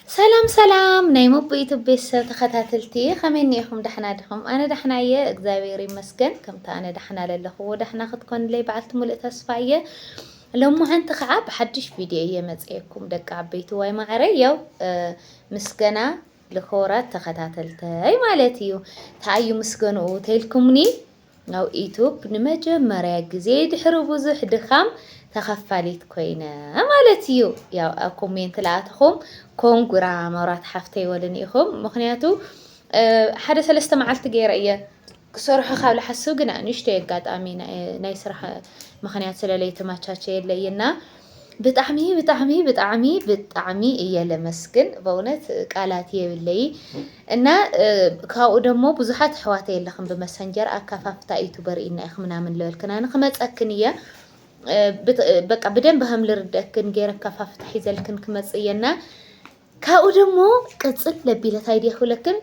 ሰላም ሰላም ናይ መቦ ዩቱብ ቤተሰብ ተኸታተልቲ ከመይ እኒኢኹም ዳሕና ዲኹም? ኣነ ዳሕና እየ እግዚኣብሔር ይመስገን። ከምቲ ኣነ ዳሕና ለለኽዎ ዳሕና ክትኮንለይ በዓልቲ ሙሉእ ተስፋ እየ። ሎማዓንቲ ከዓ ብሓድሽ ቪድዮ እየ መፅኤኩም ደቂ ዓበይቲ ዋይ ማዕረይ ያው ምስገና ልክቡራት ተኸታተልተይ ማለት እዩ። ተኣዩ ምስገንኡ ተይልኩምኒ Now Youtube ንመጀመርያ ግዜ ድሕሪ ብዙሕ ድኻም ተኸፋሊት ኮይነ ማለት እዩ ያው ኣብ ኮሜንት ለኣተኹም ኮንግራ መብራት ሓፍተይ ወልኒ ኢኹም ምኽንያቱ ሓደ ሰለስተ መዓልቲ ገይረ እየ ክሰርሖ ካብ ልሓስብ ግና ንእሽተይ ኣጋጣሚ ናይ ስራሕ ምክንያት ስለለይተመቻቸየለይ እና ብጣዕሚ ብጣዕሚ ብጣዕሚ ብጣዕሚ እየ ለመስግን በእውነት ቃላት የብለይ እና ካብኡ ደሞ ብዙሓት ኣሕዋተ የለኽን ብመሰንጀር ኣካፋፍታ ዩቱበር ኢና ኢኽ ምናምን ለበልክና ንክመፀክን እየ በቃ ብደንብ ከም ልርደክን ገይረ ኣካፋፍታ ሒዘልክን ክመፅ እየና ካብኡ ደሞ ቅፅል ለቢለት ኣይዲየ ክብለክን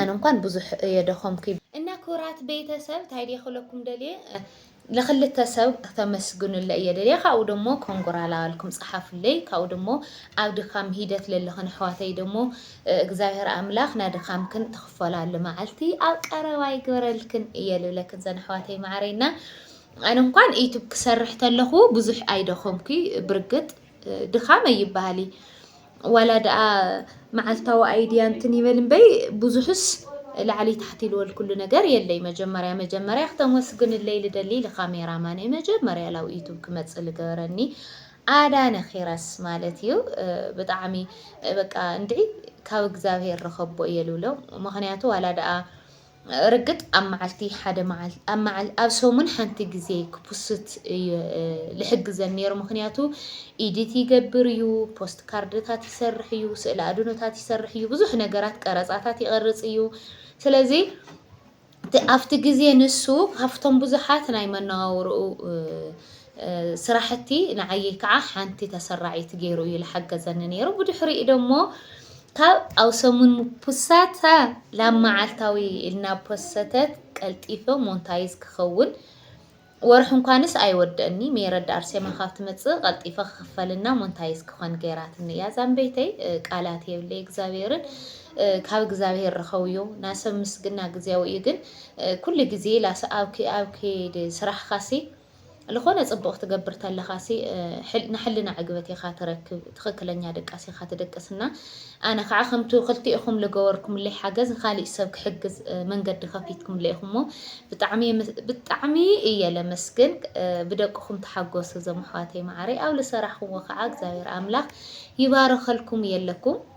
ኣነ እንኳን ብዙሕ የደኸምኩ እና ኩራት ቤተሰብ ታይዲየ ክብለኩም ደልየ ልክልተ ሰብ ክተመስግኑለይ እየ ደልየ ካብኡ ደሞ ኮንጎራላ እልኩም ጸሓፉለይ ካብኡ ደሞ ኣብ ድካም ሂደት ለለክን ኣሕዋተይ ደሞ እግዛብሄር ኣምላክ ናድካምክን ትክፈላሉ መዓልቲ ኣብ ቀረባ ይግበረልክን እየ ልብለክን ዘን ኣሕዋተይ መዓረይ እና ኣነ እንኳን ዩቱብ ክሰርሕ ተለኩ ብዙሕ ኣይደከምኩ ብርግጥ ድካም ኣይበሃሊ ዋላ ድኣ መዓልታዊ ኣይድያ እንትን ይበል እምበይ ብዙሕስ ላዕሊ ታሕቲ ልወል ኩሉ ነገር የለይ መጀመርያ መጀመርያ ክተመስግንለይ ልደሊ ልካሜራ ማነይ መጀመርያ ላብ ዩቱብ ክመፅእ ልገበረኒ ኣዳነ ኪረስ ማለት እዩ ብጣዕሚ በቃ እንድዒ ካብ እግዚኣብሄር ረኸቦ እየ ልብሎ ምክንያቱ ዋላ ድኣ ርግጥ ኣብ መዓልቲ ሓደ መዓልቲ ኣብ መዓል ኣብ ሰሙን ሓንቲ ግዜ ክፑስት እዩ ልሕግዘን ነይሩ ምክንያቱ ኢዲት ይገብር እዩ ፖስት ካርድታት ይሰርሕ እዩ ስእሊ ኣድኖታት ይሰርሕ እዩ ብዙሕ ነገራት ቀረጻታት ይቐርጽ እዩ ስለዚ ኣብቲ ግዜ ንሱ ካብቶም ብዙሓት ናይ መነዋውርኡ ስራሕቲ ንዓይይ ከዓ ሓንቲ ተሰራዒት ገይሩ እዩ ልሓገዘኒ ነይሩ ብድሕሪኡ ደሞ ካብ ኣብ ሰሙን ምፑሳታ ላብ መዓልታዊ ኢልና ፖሰተት ቀልጢፈ ሞንታይዝ ክኸውን ወርሒ እንኳንስ ኣይወደእኒ ሜረዳ ኣርሴማ ካብ ትመፅእ ቀልጢፈ ክኽፈልና ሞንታይዝ ክኾን ገይራትኒ እያ ዛንበይተይ ቃላት የብለይ እግዚኣብሔርን ካብ እግዚኣብሔር ረኸውዮ ናሰብ ምስግና ግዜያዊ እዩ ግን ኩሉ ግዜ ላስ ኣብ ኣብ ከይድ ስራሕኻሲ ልኾነ ጽቡቅ ክትገብር ተለኻሲ ናሕልና ዕግበት ኢኻ ትረክብ ትኽክለኛ ድቃስ ኢኻ ትድቅስ እና ኣነ ካዓ ከምቱ ክልቲኢኹም ልገበርኩምለይ ሓገዝ ኻሊእ ሰብ ክሕግዝ መንገዲ ከፊትኩምለይ ኢኹሞ ብጣዕሚ ብጣዕሚ እየ ለመስግን ብደቅኹም ተሓጎሱ ዞም ኣሕዋተይ ማዓረይ ኣብ ልሰራሕኹሞ ካዓ እግዚኣብሔር ኣምላኽ ይባርኸልኩም የለኩም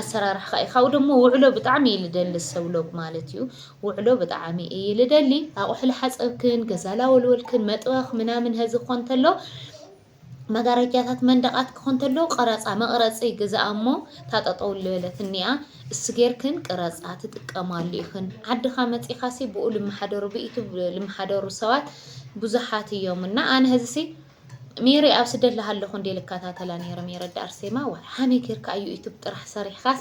ኣሰራርሕኻ ኢዩ ካብኡ ደሞ ውዕሎ ብጣዕሚ እየ ልደሊ ሰብ ሎግ ማለት እዩ ውዕሎ ብጣዕሚ እየ ልደሊ ኣቑሑ ልሓፀብክን ገዛ ላወልወልክን መጥበኽ ምናምን ሀዚ ክኾን እንተሎ መጋረጃታት መንደቃት ክኾን ተሎ ቀረፃ መቕረፂ ግዛኣ እሞ ታጠጠው ልበለት እኒኣ እሱ ጌርክን ቅረፃ ትጥቀማሉ ኢኽን ዓድኻ መፂኻሲ ብኡ ልመሓደሩ ብኢቱ ልመሓደሩ ሰባት ብዙሓት እዮም እና ኣነ ህዝሲ ሜሪ ኣብ ስደት ላሃለኹ እንዴ ልካታተላ ኔረ ሜረ ዳ ኣርሴማ ዋይ ሃመይ ጌርካ ኣዩ ዩቱብ ጥራሕ ሰሪሕካስ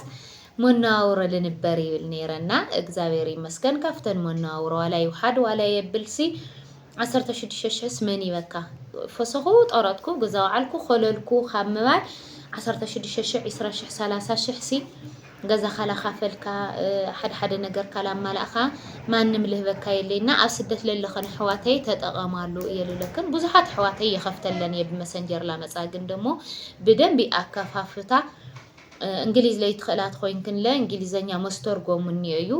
ሞናዋውሮ ልንበር ይብል ኔረ እና እግዛብሔር ይመስገን ካብተን ሞናዋውሮ ዋላ ይውሓድ ዋላ የብልሲ ዓሰርተ ሽዱሽተ ሽሕስ መን ይበካ ፈሰኹ ጠረትኩ ግዛው ዓልኩ ኮለልኩ ካብ ምባል ዓሰርተ ሽዱሽተ ሽሕ ዒስራ ሽሕ ሰላሳ ሽሕሲ ገዛኻ ላካፈልካ ሓደ ሓደ ነገርካ ላማላእካ ማንም ልህበካ የለይ እና ኣብ ስደት ለለኸን ኣሕዋተይ ተጠቐማሉ እየ ልብለክን ብዙሓት ኣሕዋተይ የኸፍተለን እየ ብመሰንጀር ላመፃ ግን ደሞ ብደንቢ ኣከፋፍታ እንግሊዝ ለይትኽእላት ኮይንክን ለ እንግሊዘኛ መስተርጎም እኒኦ እዩ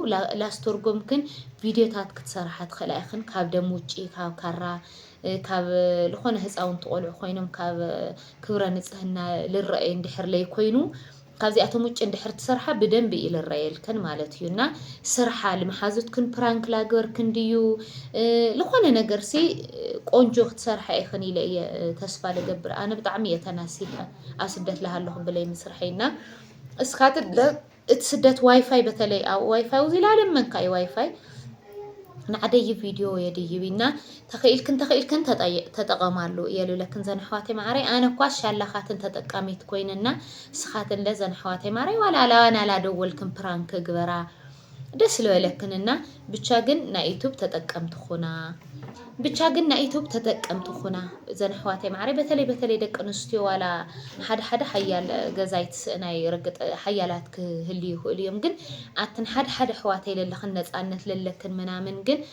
ላስተርጎምክን ቪድዮታት ክትሰርሓ ትኽእላ ኢኽን ካብ ደም ውጪ ካብ ካራ ካብ ዝኾነ ህፃውንቲ ቆልዑ ኮይኖም ካብ ክብረ ንፅህና ልረአዩ እንድሕር ለይኮይኑ ካብዚኣቶም ውጭ እንድሕር ትሰርሓ ብደንቢ ኢልረየልክን ማለት እዩ እና ስርሓ ልምሓዙትክን ፕራንክ ላግበርክን ድዩ ልኾነ ነገር ሲ ቆንጆ ክትሰርሓ ኢኽን ኢለ እየ ተስፋ ልገብር ኣነ ብጣዕሚ እየ ተናሲሐ ኣብ ስደት ልሃለኹ ብለይ ምስርሐይ እና እስካት እቲ ስደት ዋይፋይ በተለይ ኣብ ዋይፋይ ውዚ ላለመንካ እዩ ዋይፋይ ንዓደይ ቪድዮ የድይብ እና ተኺኢልክን ተኺኢልክን ተጠቐማሉ እየ ልብለክን ዘን ኣሕዋተይ መዓረይ ኣነ እኳ ሻላኻትን ተጠቃሚት ኮይነ እና ንስኻትን ለ ዘን ኣሕዋተይ መዓረይ ዋላ ናላደወልክን ፕራንክ ግበራ ደስ ልበለክን እና ብቻ ግን ናይ ዩቱብ ተጠቀምቲ ኹና ብቻ ግን ናይ ዩቱብ ተጠቀምቲ ኹና ዘን ኣሕዋተይ መዓረይ በተለይ በተለይ ደቂ ኣንስትዮ ዋላ ሓደ ሓደ ሓያል ገዛይ ትስእናይ ርግጥ ሓያላት ክህልዩ ይኽእሉ እዮም ግን ኣትን ሓደ ሓደ ኣሕዋተይ ለለኽን ነፃነት ለለክን ምናምን ግን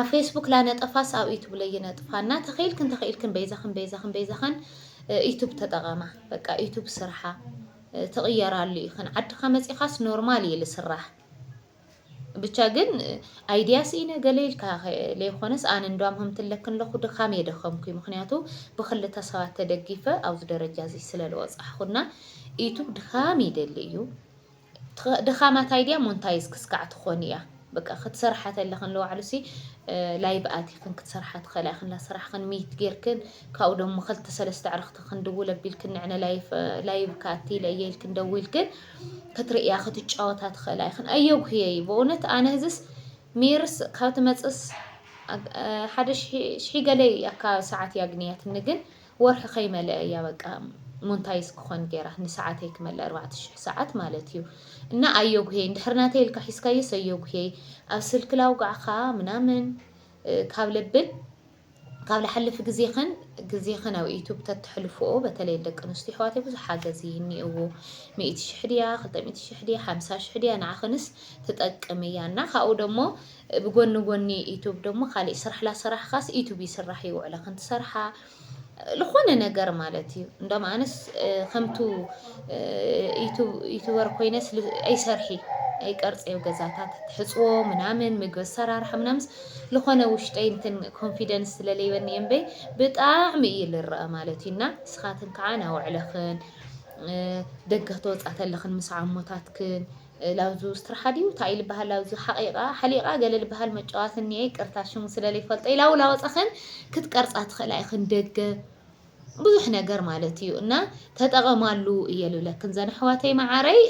ኣብ ፌስቡክ ላነጠፋስ ኣብ ዩቱብ ለይነጥፋ እና ተኸኢልክን ተኸኢልክን በይዛኽን በይዛኽን በይዛኽን ዩቱብ ተጠቐማ በቃ ዩቱብ ስርሓ ትቕየራሉ ኢኽን ዓድኻ መፂኻስ ኖርማል እዩ ልስራሕ ብቻ ግን ኣይድያ ስኢነ ገለ ኢልካ ለይኮነስ ኣነ እንዷም ህምትለክ ኣለኹ ድኻም የደኸምኩ ምክንያቱ ብክልተ ሰባት ተደጊፈ ኣብዚ ደረጃ እዚ ስለለወፃሕኹና ዩቱብ ድኻም ይደሊ እዩ ድኻማ ታይ ድያ ሞንታይዝ ክስካዕ ትኾን እያ በቃ ክትሰርሓ ተለኽን ለዋዕሉ ሲ ላይቭ ኣቲኽን ክትሰርሓ ትኸእላ ኢኽን ላሰራሕኽን ሚት ጌርክን ካብኡ ደሞ ኸልተ ሰለስተ ኣዕርኽቲ ክንድውል ኣቢልክን ንዕነ ላይቭ ካቲ ለየ ኢልክን ደዊልክን ክትርእያ ክትጫወታ ትኸእላ ኢኽን ኣየጉህየይ በእውነት ኣነ ህዝስ ሚርስ ካብ ትመፅስ ሓደ ሽሒ ገለይ ኣካ ሰዓት ያግንያትኒ ግን ወርሒ ከይመለኣ እያ በቃ ሞንታይዝ ክኾን ጌራ ንሰዓተይ ክመልእ ኣርባዕተ ሽሕ ሰዓት ማለት እዩ እና ኣዮጉሄ እንድሕር ናተይ ኢልካ ሒዝካዮስ ኣዮጉሄ ኣብ ስልኪ ላውጋዕካ ምናምን ካብ ለብል ካብ ላሓልፊ ግዜኽን ግዜኽን ኣብ ዩቱብ ተተሕልፍኦ በተለይ ደቂ ኣንስትዮ ኣሕዋተይ ብዙሕ ሓገዝ እኒእዎ ሚእቲ ሽሕ ድያ ክልተ ሚእቲ ሽሕ ድያ ሓምሳ ሽሕ ድያ ንዓኽንስ ትጠቅም እያ እና ካብኡ ደሞ ብጎኒ ጎኒ ዩቱብ ደሞ ካሊእ ስራሕ ላሰራሕኻስ ዩቱብ ይስራሕ እዩ ውዕለ ክንትሰርሓ ልኾነ ነገር ማለት እዩ እንዳም ኣነስ ከምቱ ዩቱበር ኮይነስ ኣይሰርሒ ኣይቀርፀዮ ገዛታት ትሕፅዎ ምናምን ምግቢ ኣሰራርሓ ምናምስ ልኾነ ውሽጠይ እንትን ኮንፊደንስ ስለለይበኒ እምበይ ብጣዕሚ እዩ ልረአ ማለት እዩና ስኻትን ከዓ ናውዕለኽን ደገ ተወፃእተለኽን ምስ ዓሞታትክን ላውዙ ስትራሓ ድዩ ታይ ልባሃል ላውዙ ሓቂቃ ሓሊቃ ገለ ልባሃል መጫዋቲ እኒኤ ይቅርታ ሽሙ ስለ ልይፈልጦ ኢላ ውላ ወፃክን ክትቀርፃ ትክእላ ኢክን ደገ ብዙሕ ነገር ማለት እዩ እና ተጠቀማሉ እየ ልብለክን ዘን ኣሕዋተይ መዓረይ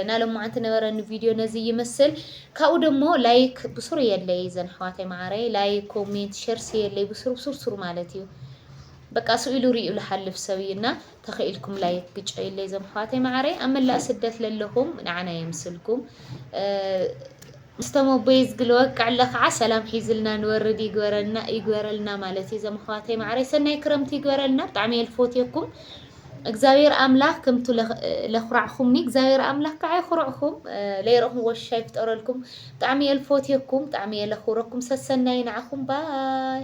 ናለማዓንቲ ነበረኒ ቪድዮ ነዚ ይመስል ካብኡ ደሞ ላይክ ብሱሩ የለይ ዘን ኣሕዋተይ መዓረይ ላይክ ኮሜንት ሸርሲ የለይ ብሱሩ ብሱርሱሩ ማለት እዩ በቃ ስኢሉ ሪኡ ልሓልፍ ሰብ እዩ እና ተኪኢልኩም ላይክ ግጨዩለይ ዞም ኣሕዋተይ ማዓረይ ኣብ መላእ ስደት ለለኩም ናዓና የምስልኩም ምስ ተመቦይ ዝግልወቅዕ ኣለ ከዓ ሰላም ሒዝልና ንወርድ ይግበረልና ይግበረልና ማለት እዩ ዞም ኣሕዋተይ ማዓረይ ሰናይ ክረምቲ ይግበረልና ብጣዕሚ እየ ልፎትየኩም እግዚኣብሔር ኣምላክ ከምቱ ለኩራዕኹም እግዚኣብሔር ኣምላክ ከዓ ይኩርዕኹም ለይረኹም ወሻ ይፍጠረልኩም ብጣዕሚ እየ ልፎትየኩም ብጣዕሚ እየ ለክብረኩም ሰሰናይ ንዓኹም ባይ